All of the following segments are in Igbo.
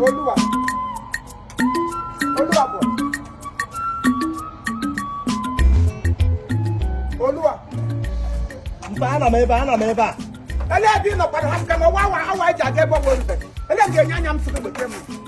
olúwa olúwa bọ̀ olúwa. mba anọ m ebe a anọ m ebe a. elee ebe ị nọkwara ha sịka na ọwa awa awa eji aga ebe ọ bụla elee ga-enye anya m sịrị bekee m.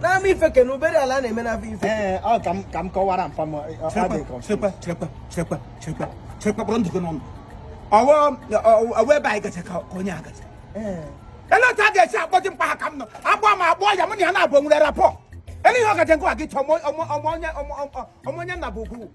n'ama ife ke na obere ala na-eme n'afọ ife ee ọ ka m ka m kọwara mpa m ọ dị confused. chekwa chekwa chekwa chekwa chekwa kpọrọ ndụgị n'ọnụ ọ wụ ọ wụ ebe anyị gacha ka ka onye a gacha Ee. ele otu a ga-esi akpọji mkpa ha ka m nọ agbọ ma agbọ ya mụ na ya na-abụ nwere rapọ ele ihe ọ gaje nkwa gị chọọ ọmụ- ọmụ- ọmụ onye- ọmụ- ọmụ- ọmụ onye nna bụ ugwu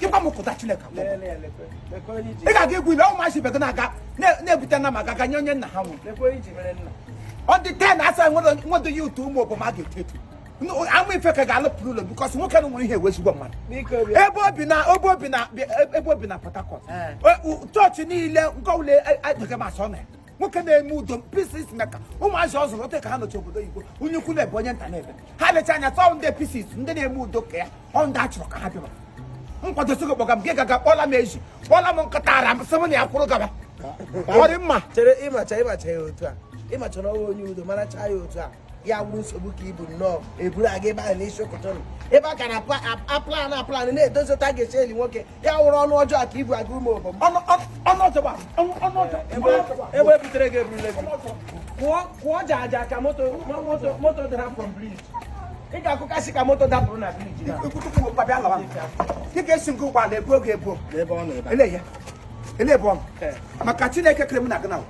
ịgwa m kụta Chineke ị ga-aga egwu ile ụmụazị ibe gị na-aga na-ebute na maka ga nye onye nna ha nwụrụ ọ dị ten asa nwedo ya ụtọ Ụmụobom a ga-eto eto ama ife ka ga-alụpụrụ ụlọ bikọs nwoke na nwere ihe ọ wụ ezigbo mmadụ ebe o bi na ebe o bi na ebe o bi na Port Harcourt chọọchị niile nke ọbụla agaghị m asọ na ya nwoke na-eme udo peace maker ụmụazị ọ zụrụ otu a ka ha nọcha obodo oyibo onye ukwu na-ebe onye nta na-ebe ha lecha anya tọọ ndị peace ndị na-eme udo ka ya ọ ndị a chọrọ ka ha bịaba nkwado sogo kpọga m gị gaga kpọla m eji kpọla m nkịta ara m sị m na ya kwụrụ gaba ọ dị mma chere ịmacha ịmacha ya otu a ịmacha na ọ wụ onye udo mara chaa ya otu a ya wụrụ nsogbu ka i bu nnọọ eburu aga ebe ahụ n'isi ụtụtụ ebe a ka a na-aplan aplan na-edozi otu a ga-esi eli nwoke ya wụrụ ọnụ ọjọọ ka i bu aga Ụmụobom ebe e butere gị eburule kwụọ ja aja ka moto moto dara from bridge ị ga-akụkasị ka moto dapụrụ na briji dịka esi nke ụgbọala egbuo gị egbuo ele bụ ọnụ maka Chineke kere m na gị na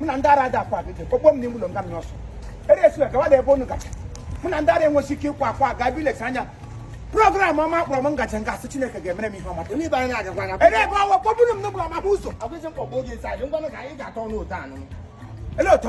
mụ na ndị ara ada akwa gị kpọkpọ m n'ime ụlọ nga m n'ọsọ ere esiwe gawa na ebe unu gacha mụ na ndị ara enweghị ike ịkwa akwa ga bi lecha anya program ọma kpọrọ m ngacha nga asị Chineke ga-emere m ihe ọma ebe ọwa kpọgburu m n'ụlọ maka ụzọ ele otu